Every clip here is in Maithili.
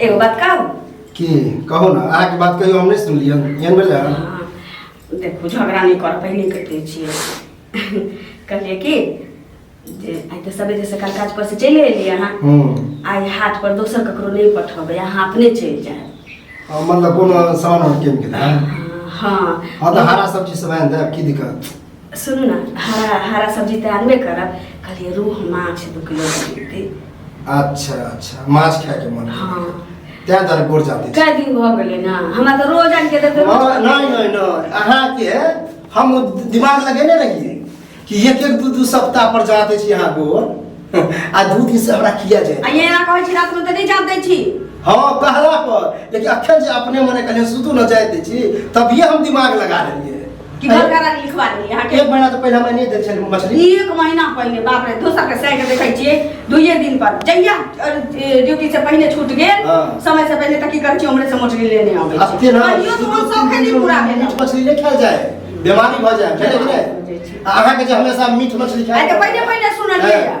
एगो बात कहू की कहू ना अहाँके बात कहियो हम नहि सुनलियै एहन भेलै हन हाँ, देखो झगड़ा नहीं कर पहले करते छिए कहलिए कि जे आइ तऽ सबेरे सकाल काज पर से चलि एलियै अहाँ हूँ आइ हाट पर दोसर ककरो नहीं पठेबै अहाँ अपने चलि जायब आ, मतलब कोनो सामान हम कीन के देब हाँ हाँ तऽ हरा सब्जी सब आनि देब की दिक्कत सुनू ने हरा हरा सब्जी तऽ आनबे करब कहलियै रूह माछ दू किलो दे देती अच्छा अच्छा माछ खाए के मन हाँ तैं दर गोर जाते कए दिन भऽ गेलै ने हमरा तऽ रोज आनि के देते रोज हाँ, नहीं नहीं नहीं अहाँ के हम दिमाग लगेने रहिए कि एक एक दू दू सप्ताह पर जाते छी अहाँ गोर आ दू दिन से हमरा किया जाए आ ये ना कहै छी रात में तऽ नहीं जान दै छी हाँ कहला पर लेकिन अखन जे अपने मने कहलिए सुतू न जाए दै छी तभिए हम दिमाग लगा लेलिए कि अरे- बड़का रानी लिखवा देली अहाँ के एक महीना से पहले मैंने देख छल मछली एक महीना पहले बाप रे दोसर के साइड देखै छियै दुइये दिन पर जहिया अ, ए, ड्यूटी से पहले छूट गेल हाँ। समय से पहले तऽ की करै छियै उम्हरे से मोटरी लेने आबै अब छियै तेना कहियो तऽ हम सब खेली पूरा भेल मीट मछली नहीं खायल जाए बीमारी भऽ जाए बुझलियै कि बीमारी भऽ जाइ छै। नहि अहाँके जे हमेशा मीट मछली आइ खाए तऽ पहिले पहिले सुनलियै हँ।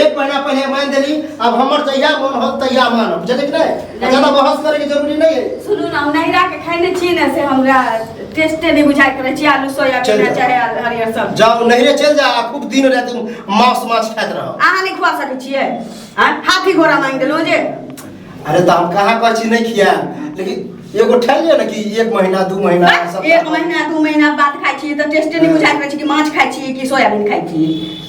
एक महीना पहले मान देली अब हमर जहिया मन हो तहिया मानब जने कि नहीं नहीं। ज्यादा बहस करे के जरूरी नहीं है सुनू ना हम नहिरा के खाए नहीं छी ना से हमरा टेस्टे नहीं बुझाए करे छी आलू सोयाबीन चल आ जा। चाहे आल- हरियर सब्जी जाओ नहिरे चल जा आ खूब दिन रात मांस मांस खात रहो अहाँ नहीं खुआ सकै छियै आँ? हाथी घोड़ा मांगि देलहुँ जे अरे तो हम कहाँ कह छी नहीं खिया लेकिन एगो ठहर लियो ना कि एक महीना दू महीना बस, सप्ताह एक महीना दू महीना बाद खाइ छियै तऽ टेस्टे नहि बुझाइत रहै छै कि माछ खाइ छियै कि सोयाबीन खाइ छियै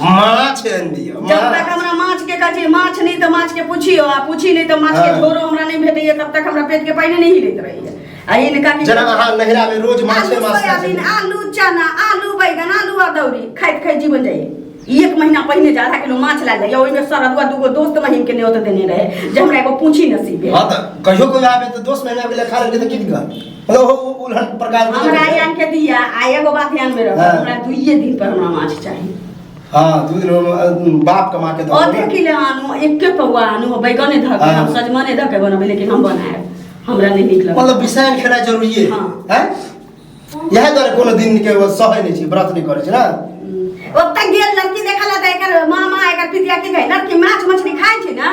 माछ आनि दिअ जब तक माछ। हमरा माछ के कहै छै माछ नहीं तो माछ के पूछियो आ पूछी नहीं तो माछ के हाँ। झोरो हमरा नहीं भेटैया तब तक हमरा पेट के पानी नहीं हिलैत रहैया आ इनका की जेना अहाँ नहिरा में रोज माछे आलू माछ खाइ सोयाबीन छलियै। आलू चना आलू बैगन आलू अदौरी खाइत खाइत जीवन जाइए एक महीना पहिने जे आधा किलो माछ लए जाइए ओहिमे सरदुआ दूगो दोस्त महीन के न्योत देने रहे जे हमरा एगो पूछी नसीब है हाँ तऽ कहियो कोइ आबे तऽ दोस्त महीना के लिए खा लेलकै तऽ की दिक्कत हेलो हो उ- उल्हन प्रकार में हमरा चले। यान के दिया आ एगो बात ध्यान में रखो हाँ। हमरा दुइये दिन पर हमरा माछ चाहिए हाँ दू दिन हम, अ, बाप कमा के दो अधे किलो आनू एके पौआ आनू बैगने धऽ के हाँ। हम सजमने धऽ के बनबै लेकिन हम बनाएब हमरा नहि नीक लगल मतलब विषय खेला जरूरी है हाँ। हैं? यह दुआरे कोनो दिन के वो सहै नहीं छी व्रत नहीं करे छी ना ओतऽ गेल लड़की देखल तऽ एकर मामा एकर पितिया की कहै लड़की माछ मछली खाइ छै ने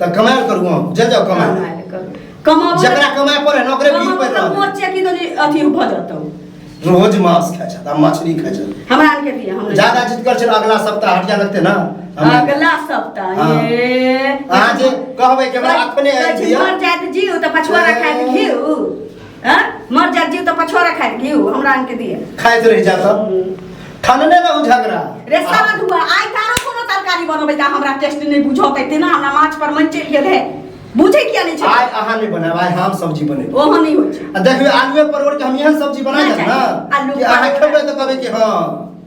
त कमाल करू हम जल जाओ कमाल कमाल करू। कमाबो जकरा कमाए पड़े ना ओकरे बीस कमाबो पैसा तऽ मोचे कि दनी अथी भऽ जतौ रोज मांस खाइ छथि आ मछली खाइ छथि हमरा आरके दिया हम ज्यादा जिद कर छल अगला सप्ताह हटिया लगते ना हम- अगला सप्ताह हाँ। ये अहाँ जे कहबै कि हमरा अपने आबि दिअ। मर जाइत जीव तऽ पछुआरा खाइत घीव हैं मर जा जीव तो पछोरा खाए घी हमरा आन के दिए खाए तो रह जा सब ठनने में उ झगड़ा रे सारा धुआ आइ तारो कोनो तरकारी बनबै ता हमरा टेस्ट नहीं बुझौत एते ना हमरा माछ पर मन चल गेल है बुझे किया नहीं छै आय अहाँ नहीं बनाब आय हम सब्जी बने ओहो नहीं होइ छै आ देखियो आलूए परोड़ के हम यहाँ सब्जी बना ना जाब ना चाही। आलू कि अहाँ परोड़। खेबै तो कहबै कि हाँ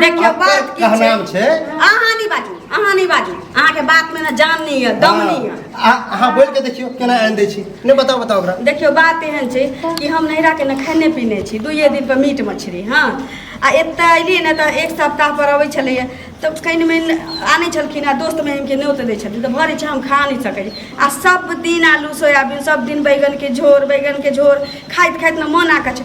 देखियौ अक्कर बात की छै कहनाम छै अहाँ नहि बाजू अहाँ नहि बाजू अहाँके बात मे ने जान नहि यऽ दम नहि यऽ आ- अहाँ बोल के देखियो केना आनि दै छी नहि बताओ बताओ ओकरा देखियौ बात एहन छै कि हम नैहराके ने खेने पीने छी दुइए दिन पर मीट मछली हँ आ एतऽ अयलियै ने तऽ एक सप्ताह पर अबै छलैए तऽ कनि मनि आनै छलखिन आ दोस्त महिमके न्योत दै छलखिन तऽ भरि छै हम खा नहि सकै छी आ सब दिन आलू सोयाबीन सब दिन बैगनके झोर बैगनके झोर खाइत खाइत ने मोन आकछ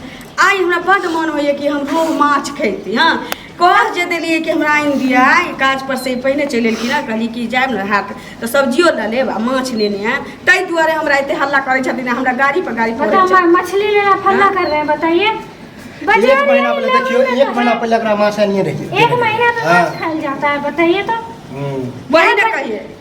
आइ हमरा बड्ड मन होइए कि हम रोहु माछ खैती हँ कह जे देलियै कि हमरा आनि दिअ आइ काज पर से पहिने चलि एलखिन हँ कहली कि जायब ने हाथ तऽ सब्जियो लऽ लेब आ माछ लेने आयब ताहि दुआरे हमरा एते हल्ला करै छथिन आ हमरा गाड़ी पर गाड़ी पर बता मछली लेना फल्ला कर रहे हैं बताइए एक महीना पहले देखियो एक महीना पहले एकरा माछ आनिए रहिए एक महीना तो माछ हाँ। खाइल जाता है बताइए तो हम्म। वही ने कहिए